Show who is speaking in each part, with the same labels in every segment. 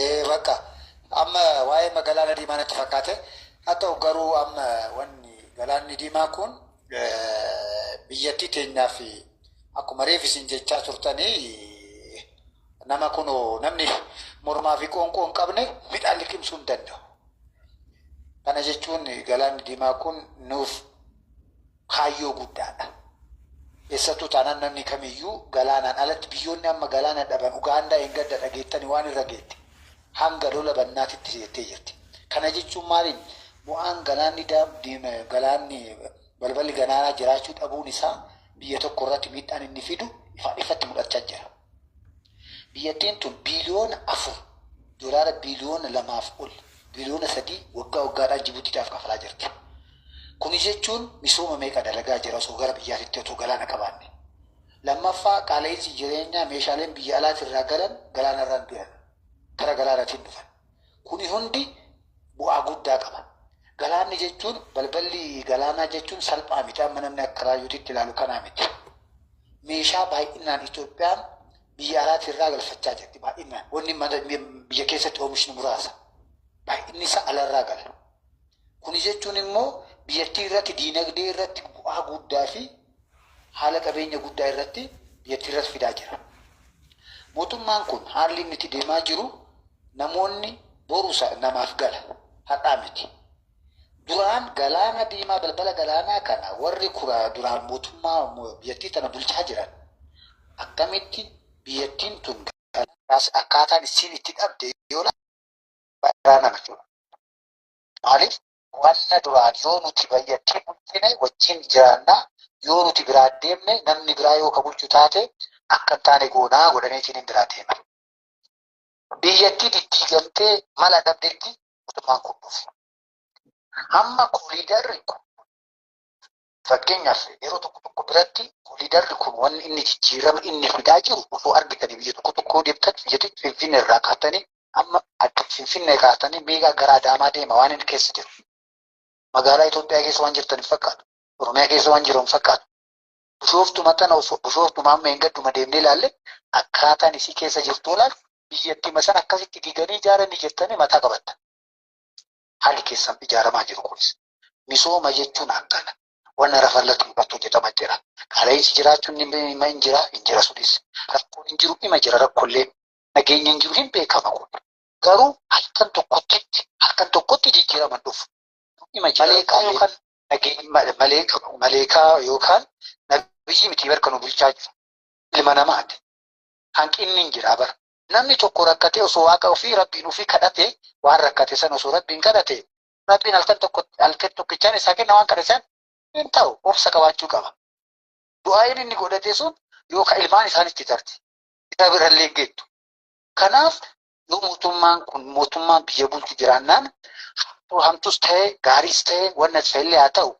Speaker 1: Ee bakka amma waa'ee ma galaana diimaa natti fakkaate haa ta'u garuu amma wanni galaanni diimaa kun biyyattii teenyaa fi akkuma reef isin jechaa turtanii nama kun namni mormaa fi qoonqoo hin qabne midhaan liqimsuu hin danda'u. Kana jechuun galaanni diimaa kun nuuf kaayyoo guddaa dha. Eessattuu taanaan namni kamiyyuu galaanaan alatti biyyoonni amma galaana dhaban Ugaandaa engadda dhageettani waan irra geette hanga lola bannaatitti seettee jirti. Kana jechuun maaliin bu'aan galaanni daam diim galaanni balballi ganaanaa jiraachuu dhabuun isaa biyya tokko irratti miidhaan inni fidu ifaan ifatti mudhachaa jira. Biyyattiin tun biiliyoona 4, doolaara biiliyoona 2 fi ol, biiliyoona 3, waggaa waggaadhaan Jibuutiidhaaf kafalaa jirti. Kuni jechuun misooma meeqa dalagaa jira osoo gara biyyaatitti otoo galaana qabaanne? Lammaffaa qaala'iinsi jireenyaa meeshaaleen biyya alaatirraa galan galaanarraan duran. Kara galaanatiin dhufan. Kuni hundi bu'aa guddaa qaba. Galaanni jechuun balballi galaanaa jechuun salphaa miti amma namni akka raayyuuti itti ilaalu kanaa miti. Meeshaa baay'inaan Itoophiyaan biyya alaatii irraa galfachaa jirti baay'inaan. Wanni mana biyya keessatti oomishnu muraasa. Baay'inni isaa alarraa gala. Kuni jechuun immoo biyyattii irratti diinagdee irratti bu'aa guddaa fi haala qabeenya guddaa irratti biyyattiirras fidaa jira. Mootummaan kun haalli inni itti deemaa jiru namoonni boru isa namaaf gala har'aa miti. Duraan galaana diimaa balbala galaanaa kana warri kura duraan mootummaa biyyattii tana bulchaa jiran akkamitti biyyattiin tun galaanaas akkaataan issiin itti dhabde yoo laale baay'ee garaa nama dhiba. Maaliif Wanna duraan yoo nuti bayyattee bulchine wajjin jiraanna, yoo nuti biraa deemne namni biraa yoo ka bulchu taate akka hin taane goonaa godhaniitiin hin biraa deeman. Biyyattii diddiigamtee mala dhabdetti mootummaan kun dhufe. Amma koliidarri kun Fakkeenyaaf yeroo tokko tokko biratti koliidarri kun wanni inni jijjiirama inni fidaa jiru osoo argitanii biyya tokko tokkoo deemtan biyyatti finfinne irraa kaatanii amma adda finfinne kaatanii miigaa gara adaamaa deema waan inni keessa jiru. Magaalaa Itoophiyaa keessa waan jirtan hin fakkaatu. Oromiyaa keessa waan jiru hin fakkaatu. Bushooftu maxxana osoo bushooftu maamma hin gadduma deemnee ilaalle akkaataan isii keessa jirtu ilaalu biyyattii masan akkasitti diganii ijaaranii jettanii mataa qabatta. hali keessan ijaaramaa jiru kunis. Misooma jechuun akkana. Wanna rafa irratti mul'atu hojjetama jira. Qaala'insi jiraachuun ni hima hin jira, hin jira sunis. Rakkoon hin jiru hima jira rakkollee. Nageenya hin jiru hin beekama kun. Garuu halkan tokkotti halkan tokkotti jijjiirama hin dhufu. Hima jira. Maleekaa yookaan nageenya maleekaa maleekaa yookaan nabiyyi miti barka nu bulchaa jiru. Ilma namaati. Hanqinni hin jira bara. Namni tokko rakkatee osoo waaqa ofii rabbiin ofii kadhate waan rakkate san osoo rabbiin kadhate rabbiin halkan tokko halkan tokkichaan isaa kenna waan kadhe san hin ta'u obsa qabaachuu qaba. Du'aa'iin inni godhate sun yoo ka ilmaan isaanitti tarte isa birallee hin geettu. Kanaaf yoo mootummaan kun mootummaan biyya bulchu jiraannaan hamtuus ta'e gaariis ta'e wanna ta'ellee haa ta'u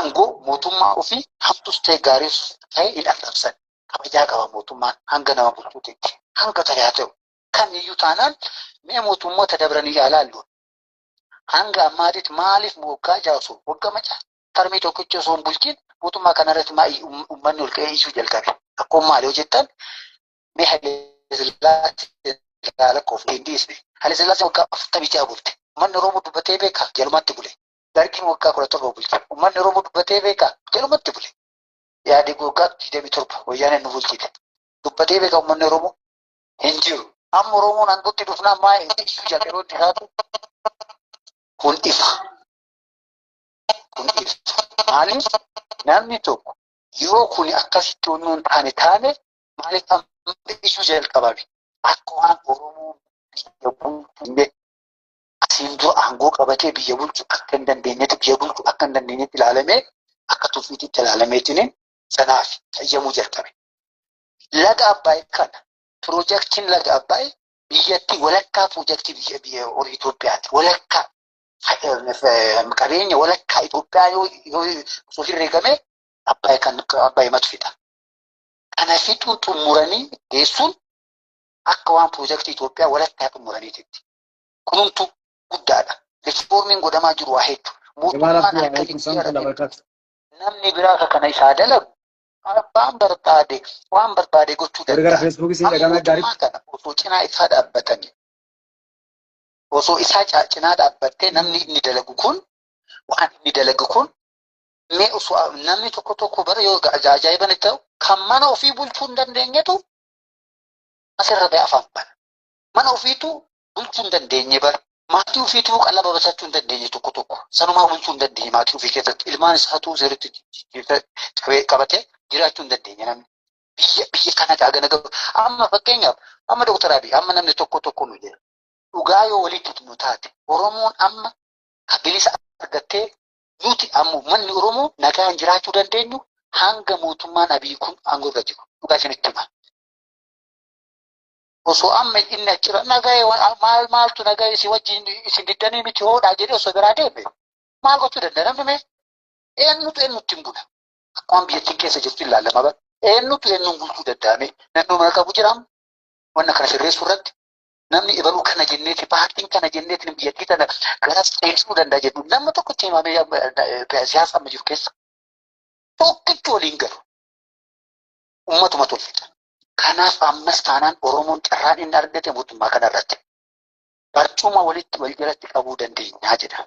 Speaker 1: angoo mootummaa ofii hamtus ta'e gaariis ta'e hin arrabsan. Kabajaa qaba mootummaan hanga nama bulchuutitti hanga ta'e haa ta'u. Kamiyyuu taanaan mee mootummoota dabranii yaa laallu. Hanga ammaatitti maaliif waggaa ja'a osoo waggaa maca tarmii tokkicha osoo hin bulchiin mootummaa kanarratti maa uummanni ol ka'ee iyyuu jalqabe. Rakkoon maali yoo jettan mee Hayilasillaasee ilaalakoof hin dhiisne. Hayilasillaasee waggaa afurtamii ja'a bulche. Manni Oromoo dubbatee beekaa jalumatti bule. Dargiin waggaa kudha torba bulche. Uummanni Oromoo dubbatee beekaa? Jalumatti bule. Yaadii waggaa digdamii torba wayyaaneen nu bulchite. Dubbatee beekaa uummanni Oromoo? Hin jiru. Amma Oromoon aangootti dhufnaan maa iyyuu jedha yeroo itti taatu kun ifa. Kun ifa. Maaliif namni tokko yoo kun akkasitti onnoo hin taane taane maaliif amma iyyuu jalqabame? Akka waan Oromoo biyya bulchu hin beeku. asiin dura aangoo qabatee biyya bulchu akka hin dandeenyetti biyya bulchu akka hin dandeenyetti ilaalamee akka tuffiititti ilaalameetiin sanaaf fayyamuu jalqabe. Laga Abbaay kana piroojaktiin laga Abbaay biyyattii walakkaa piroojaktii biyya biyya horii Itoophiyaati. Walakkaa qabeenya walakkaa Itoophiyaa yoo yoo osoo herreegamee Abbaay kan Abbaay matu fixa. Kana fixuu xumuranii geessuun akka waan piroojaktii Itoophiyaa walakkaa xumuraniititti. kunumtu guddaadha. Riifoormiin godhamaa jiru waa hedduu. Mootummaan akka jijjiirate namni biraa akka kana isaa dalagu abbaan barbaade waan barbaade gochuu danda'a. Amma mootummaa kana osoo cinaa isaa dhaabbatanii osoo isaa cinaa dhaabbattee namni inni dalagu kun waan inni dalagu kun mee osoo namni tokko tokko bara yoo ajaa'iban ta'u kan mana ofii bulchuu hin dandeenyetu asirra ba'e afaan bana. Mana ofiituu bulchuu hin dandeenye bara. Maatii ofiituu qalaba basachuu hin dandeenye tokko tokko. Sanumaa bulchuu hin dandeenye maatii ofii keessatti. Ilmaan isaatuu seeritti qabee qabatee jiraachuu hin dandeenye namni. Biyya biyya kana gaagana gabu. Amma fakkeenyaaf amma Dooktar Abiy amma namni tokko tokko nu jira. Dhugaa yoo walitti himnu taate Oromoon amma ka bilisa argattee nuti amma uummanni Oromoo nagaan jiraachuu dandeenyu hanga mootummaan Abiy kun aangoo irra jiru. Dhugaa isinitti hima. osoo amma inni achirra nagahee wa- maal maaltu nagahee si wajjin isin giddanii miti hoodhaa jedhee osoo biraa deeme maal gochuu danda'a namni mee eenyutu eenyutti hin bula akkuma biyyattiin keessa jirtu ilaalama bara eenyutu eenyuun bulchuu danda'ame namni mana qabu jiraam wanna kana sirreessuu irratti namni ibaluu kana jenneeti paartiin kana jenneeti biyyattii tana gara seensisu danda'a jedhu nama tokkotti himamee amma, eh, siyaasa amma jiru keessa tokkitti waliin galu ummatuma tolfita. Kanaaf ammas taanaan Oromoon carraan inni argate mootummaa kanarratti barcuma walitti wal jalatti qabuu dandeenyaa jedha.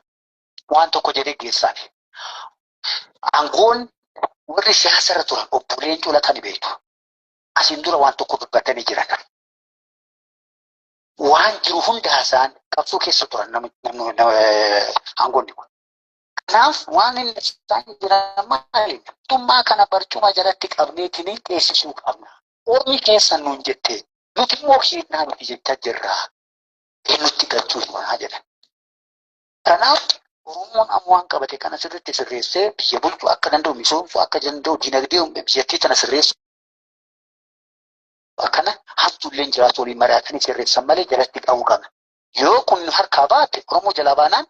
Speaker 1: Waan tokko jedhee geessaan. Aangoon warri siyaasa irra turan obbo Leencoo Lataa ni beektu. Asiin dura waan tokko dubbatanii jiran. Waan jiru hunda haasa'an qabsoo keessa turan aangoonni kun. Kanaaf waan inni isaan jiran maali? Mootummaa kana barcuma jalatti qabneetiin teessisuu qabna. Ormi keessan nuun jette nuti immoo keennaa miti jechaa jirra. Eenyutti galchuu himaa jedhan. Kanaaf Oromoon amma waan qabate kana sirriitti sirreessee biyya bulchuu akka danda'u misoomsuu akka danda'u dinagdee biyyattii tana sirreessuu akkana hamtuulleen jiraatu waliin mari'atanii sirreessan malee jalatti qabuu qabna. Yoo kun harkaa baate Oromoo jalaa baanaan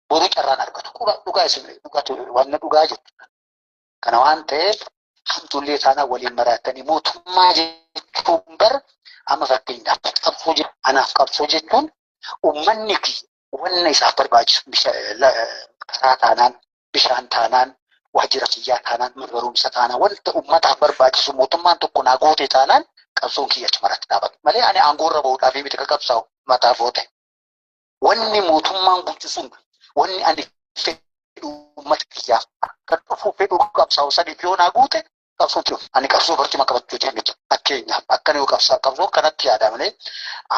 Speaker 1: boru carraan argatu. Quba dhugaa isin dhugatu wanna dhugaa jirtu. Kana waan ta'eef hamtuullee taanaa waliin maraatanii mootummaa jechuun bar amma fakkeenyaaf qabsoo je- anaaf qabsoo jechuun uummanni fi wanna isaaf barbaachisu bisha- la- karaa taanaan bishaan taanaan waajjira fayyaa taanaan mana barumsa taanaan wanta uummataaf barbaachisu mootummaan tokko naa goote taanaan qabsoon kiyya achumarratti dhaabata malee ani aangoorra bahuudhaaf miti ka qabsaa'u mataaf oote. Wanni mootummaan bulchu sun wanni ani fedhu uummata kiyyaaf akka dhufu fedhu qabsaa'u sadiif yoo naa guute qabsoon jiru. Ani qabsoo barcuma qabachuu jenne jira. Fakkeenyaaf akkana yoo qabsaa qabsoo kanatti yaada malee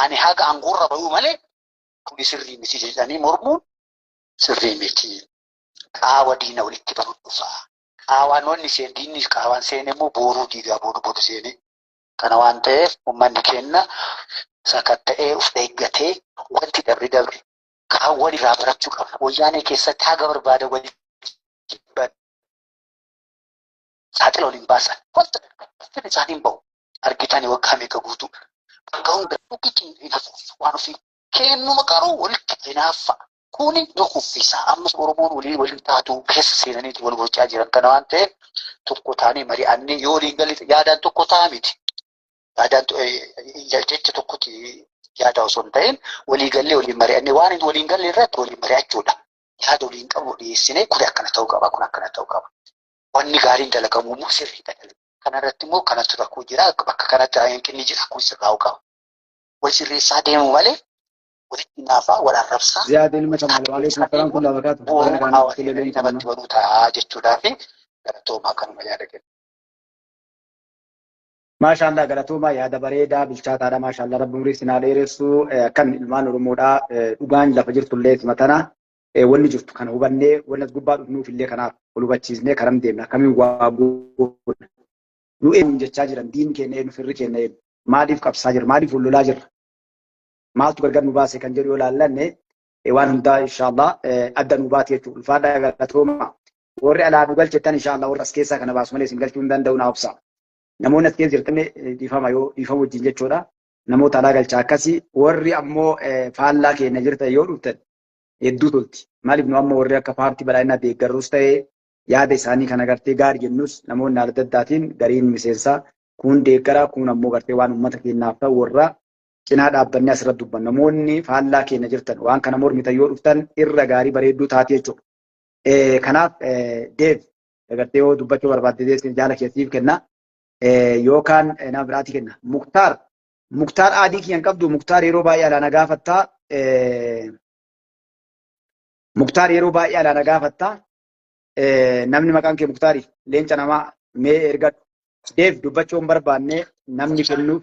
Speaker 1: ani haga aangoorra bahuu malee kuni sirrii miti jedhanii mormuun sirrii miti. Qaawa diina walitti banuun dhufaa. Qaawaan wanni seen diinni qaawaan seen immoo booruu diigaa booda booda seenee Kana waan ta'eef uummanni keenya sakatta'ee of eeggatee wanti dabre dabre kaan walirraa barachuu qaba. Wayyaanee keessatti haga barbaada waliin saaxila waliin baasan wanta ittiin isaan hin bahu argitani waggaa meeqa guutuu bakka hunda dhugichi hin hafuuf waan ofii kennuma garuu walitti hinaaffaa Kuni nu kuffisa. Ammas Oromoon walii waliin taatu keessa seenaniiti wal gochaa jiran kana waan ta'eef tokko taanee mari'annee yoo waliin galle yaadaan tokko ta'a miti. Yaadaan jecha tokkotti yaadaa osoo hin ta'in walii gallee waliin mari'annee waan hin waliin galle irratti waliin mari'achuudha. Yaada waliin qabu dhiyeessinee kun akkana ta'uu qaba kun akkana ta'uu qaba. Wanni gaariin dalagamu immoo sirriidha. Kanarratti immoo kanatu rakkoo jira bakka kanatti hanqinni jira kun sirraa'uu qaba. Wal sirreessaa deemuu malee walitti naafaa wal arrabsaa Ziyaad ilma Kamaal
Speaker 2: waalaikum salaam kullaa barakaatu. Baga bu'uun nagaan hawaasa kulle eegalii namatti
Speaker 1: banuu ta'a jechuudhaa fi galatoomaa kanuma yaada kenna.
Speaker 2: Maashaallah galatoomaa yaada bareedaa bilchaataadha maashaallah rabbi umrii sinaa dheeressu Eh, akkan ilmaan oromoodha Eh, dhugaan lafa jirtullee isuma tana Eh, wanni jirtu kana hubannee wanni as gubbaa dhufnuuf illee kanaaf ol hubachiisnee karam deemna akkamiin waa goona nu eenyuun jechaa jiran diin keenya eenyu firri keenya eenyu maaliif qabsaa jirra maaliif wal lolaa jirra maaltu gargar nu baase kan jedhu yoo laallanne waan hundaa inshaallah adda nu baate jechuudha. Ulfaadhaa galatooma. Warri alaa nu galchettan inshaallah warra as keessaa kana baasu malee isin galchuu hin danda'u naa obsa. Namoonni as keessa jirtan dhiifama yoo dhiifama wajjin jechuudha. Namoota alaa galchaa akkasii warri ammoo faallaa keenya jirtan yoo dhuftan hedduu tolti. Maaliif nu amma warri akka paartii badhaadhinaa deeggarrus ta'ee yaada isaanii kan agartee gaarii jennus namoonni adda addaatiin gariin miseensaa kuun deeggaraa kuun ammoo gartee waan uummata keenyaaf ta'u warra cinaa dhaabbanni asirratti dubban namoonni faallaa keenya jirtan waan kana mormitan yoo dhuftan irra gaarii bareedduu taate jechuudha. Kanaaf Deev dagartee yoo dubbachuu barbaadde deessin jaala keessiif kenna. Yookaan nama biraati kenna. Muktaar Muktaar aadii kiyyan qabdu Muktaar yeroo baay'ee alaana gaafattaa. Muktaar yeroo baay'ee alaana gaafattaa. Namni maqaan kee Muktaari leenca namaa mee ergadhu. Deev dubbachuu hin barbaanne namni kennuuf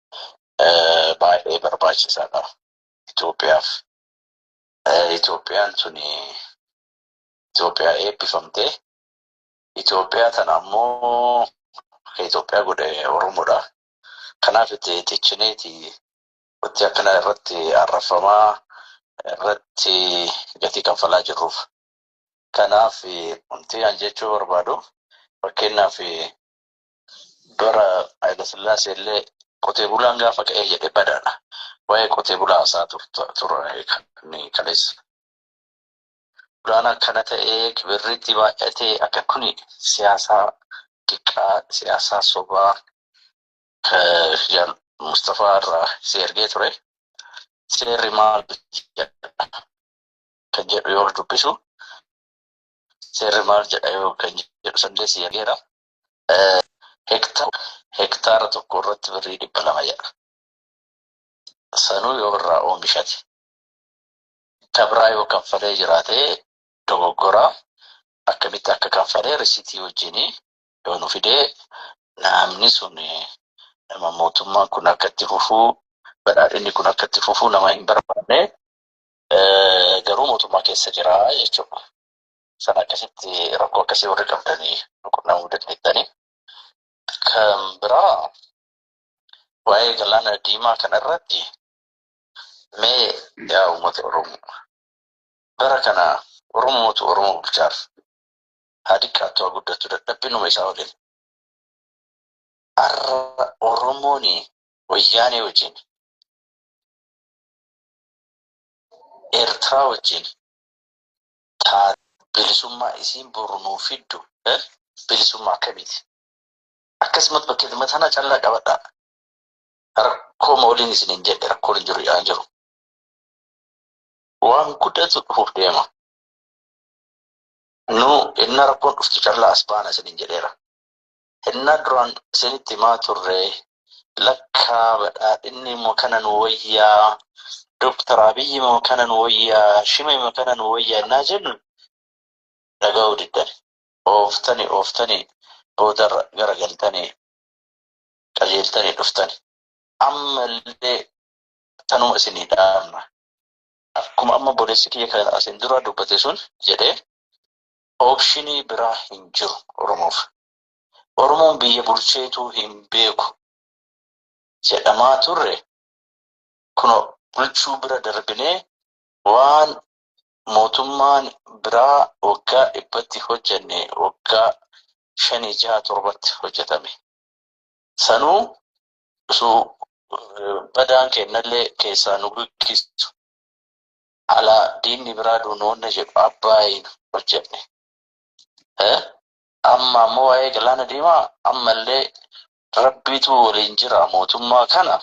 Speaker 3: eh, baay'ee barbaachisaadha Itoophiyaaf. Eh, Itoophiyaan tuni Itoophiyaa eebbifamte. Itoophiyaa tana ammoo kan Itoophiyaa godhe Oromoodha. Kanaaf itti tichineti wanti akkana irratti arrafamaa irratti gatii kanfalaa jirruuf. Kanaaf wanti an jechuu barbaadu fakkeenyaaf bara Hayilasillaasee illee qotee bulaan gaafa ka'ee jedhe badaadha. Waa'ee qotee bulaa hasaa turre kan kaleessa. Bulaan akkana ta'ee kibirriitti baay'atee akka kuni siyaasaa xiqqaa siyaasaa sobaa jaal Mustafaa irraa si ergee ture. Seerri maal kan jedhu yoo dubbisu seerri maal jedha yoo kan jedhu sandee si ergeera. hektaara tokko irratti birrii dhibba lama jedha. Sanuu yoo irraa oomishate kabraa yoo kanfalee jiraate dogoggora akkamitti akka kanfalee risitii wajjin yoo nu fidee namni sun nama mootummaan kun akka itti fufuu badhaadhinni kun akka itti fufuu nama hin barbaanne garuu mootummaa keessa jira jechuudha. Sana akkasitti rakkoo akkasii warri qabdanii nu qunnamuu dandeettanii. Kan biraa waa'ee galaana diimaa kana irratti mee yaa uummata Oromoo bara kana Oromootu Oromoo bulchaaf haa xiqqaattu haa guddattu dadhabbinuma isaa waliin har'a Oromoon wayyaanee wajjin Eertiraa wajjin taate. Bilisummaa isiin boru nuuf fiddu bilisummaa akkamiiti? Akkasumatti bakkeetuma tana callaa qabadhaa. Rakkooma waliin isin hin jedhe rakkoon hin jiru yaa jiru. Waan guddatu dhufuuf deema. Nu inna rakkoon dhuftu callaa as baana isin hin jedheera. Hennaa duraan isinitti himaa turre lakkaa badhaadhinni immoo kana nu wayyaa, Dooktar Abiyyi immoo kana nu wayyaa, Shime immoo kana nu wayyaa hennaa jennu dhaga'uu diddan. Ooftanii ooftanii boodarra garagaltanii qajeeltanii dhuftan. Amma illee tanuma isinii dhaamna. Akkuma amma boleessi kiyya kan asin dura dubbate sun jedhe Optionii biraa hin jiru Oromoof. Oromoon biyya bulcheetuu hin beeku jedhamaa turre kuno bulchuu bira darbinee waan mootummaan biraa waggaa dhibbatti hojjenne waggaa shanii jaha torbatti hojjetame. Sanuu utuu badaan keennallee keessaa nu giggisu Ala diinni biraa duunoonna jedhu Abbaayiin hojjenne. Amma ammoo waa'ee galaana diimaa ammallee rabbiitu waliin jira mootummaa kana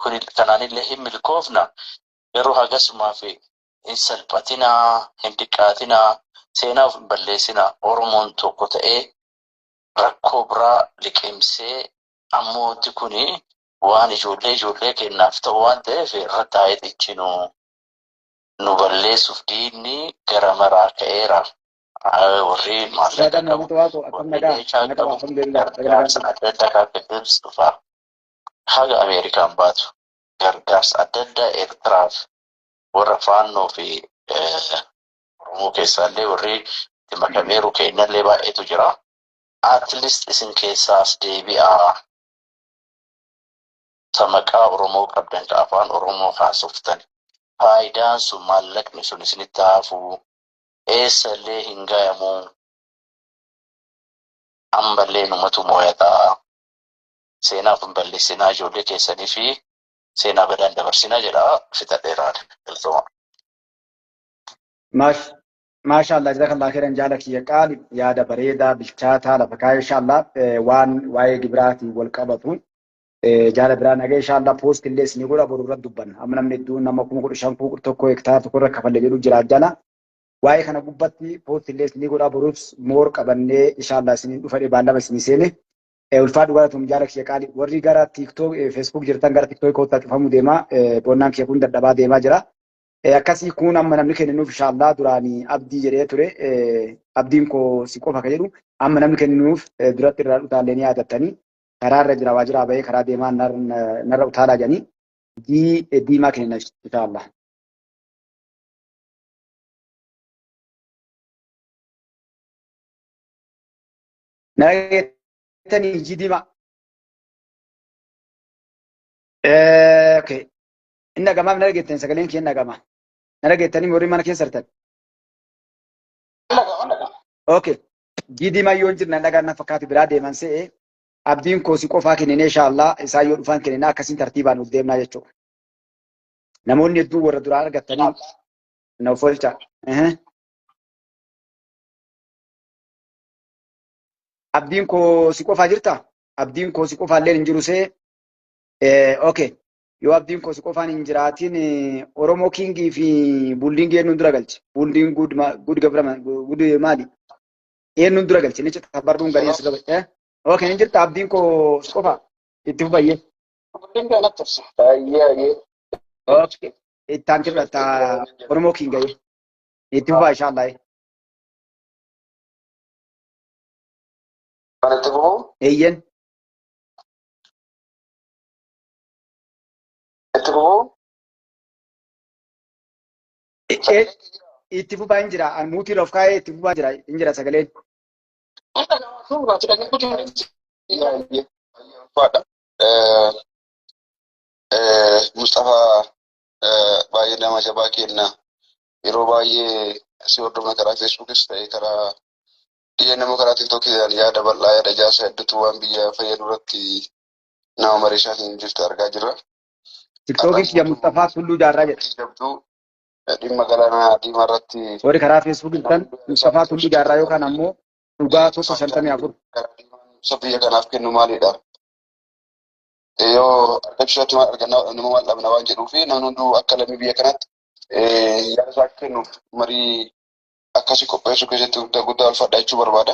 Speaker 3: kuni kanaanillee hin milkoofna garuu hagasumaaf hin salphatinaa hin diqqaatinaa seenaa of hin balleessinaa oromoon tokko ta'ee rakkoo biraa liqimsee ammoo wanti kuni waan ijoollee ijoollee keenyaaf ta'u waan ta'eef irratti haa hidhichinu. Nu balleessuuf diinni gara maraa ka'eera. Warri maallaqa qabu, warri meeshaa qabu, gargaarsa adda addaa kan fiduus dhufa. Haga Ameerikaan baatu gargaarsa adda addaa Eertiraaf warra faannoo fi Oromoo keessaallee warri itti makameeru keenyallee baay'eetu jira. At least isin keessaa as deebi'aa. ta maqaa Oromoo qabdan ka afaan Oromoo haasoftani faayidaan sun maallaqni sun isinitti haafuu eessa illee hin gayamuu amma illee numatu mooyataa seenaa of hin balleessinaa ijoollee keessanii fi seenaa badaan dabarsinaa jedha fixadheeraan galtoomaa. Maash
Speaker 2: Maashaallah jazakallah khairan jaala kiyya qaali yaada bareedaa bilchaataa lafa kaa'e inshaallah waan waa'ee gibiraatiin wal qabatu jaala biraa nagee inshaallah poost illee isinii godha boru irratti dubbanna amma namni hedduun nama kuma kudha shan kuma kudha tokko hektaara tokko irra kafalle jedhu jira jala waa'ee kana gubbatti poost illee isinii godha boruuf moor qabannee inshaallah isiniin dhufadhe baallama isinii seene ulfaa dhugaa tum jaala kiyya qaali warri gara tiiktook feesbuuk jirtan gara tiiktook kootaa cufamu deemaa boonnaan kiyya kun dadhabaa deemaa jira. Eh, akkasii kun amma namni kenninuuf inshaallah duraanii abdii jedhee ture eh, abdiin koo si qofa ka jedhu amma namni kenninuuf eh, duratti irraa utaallee ni yaadattanii karaa irra jira waa jiraa bahee karaa deemaa nar- na- narra utaalaa jedhanii dii eh, diimaa kennina inshaallah. Nageettanii ijji diimaa. Eh, okay. Hin dhagamaa hin dhageettan sagaleen kee hin dhagamaa. Na dhageettanii warri mana keessa jirtan. Okay. Gidii mayyoo hin jirna dhagaan na fakkaatu biraa deeman se'e. Abdiin koo si qofaa kenninee inshaallaa isaa yoo dhufaan kenninaa akkasiin tartiibaan nuuf deemnaa jechuudha. Namoonni hedduu warra duraa argattanii na ofolchaa. Ehe. Abdiin koo si qofaa jirtaa? Abdiin koo si qofaa illee hin jiru see. Eh, okay. yoo abdiin koo si qofaan hin jiraatiin Oromoo kiingii fi buuldiingii eenyuun dura galche? Buuldiin guud guud gabrama guud maali? Eenyuun dura galche? Ni cita barruun gariin si gabatte. Ok ni jirta abdiin koo si qofa itti fufayyee. Ok itti aanti fudhatta Oromoo kiingayee. Itti fufaa inshaallah. Eeyyen.
Speaker 3: Itti fufuu.
Speaker 2: Itti fufaa hin jira. An muutii of kaa'ee itti fufaa jira. Hin jira sagaleen.
Speaker 3: Mustafaa baay'ee nama jabaa kenna. Yeroo baay'ee si hordofna karaa Feesbuukis ta'ee karaa dhiyeenya nama karaa Tiiktookii yaada bal'aa yaada ijaarsa hedduutu waan biyya fayyadu irratti nama mariishaa hin jirtu argaa jirra. Tiktookis
Speaker 2: Arraan Jamuus Tafaa Tulluu Jaarraa jedha. Abdii jabduu dhimma
Speaker 3: galaanaa diimaa irratti Warri karaa Facebook
Speaker 2: jirtan Mustafaa Tulluu Jaarraa yookaan ammoo dhugaa tokko shantamii afur. Ibsa biyya
Speaker 3: kanaaf kennu maalidha? Yoo argachuu isaatti maal arganna nama maal dhabna waan jedhuu fi namni hunduu akka lammii biyya kanaatti yaada isaa akka kennuuf marii akkasii qopheessuu keessatti guddaa guddaa ulfaadhaa jechuu barbaada.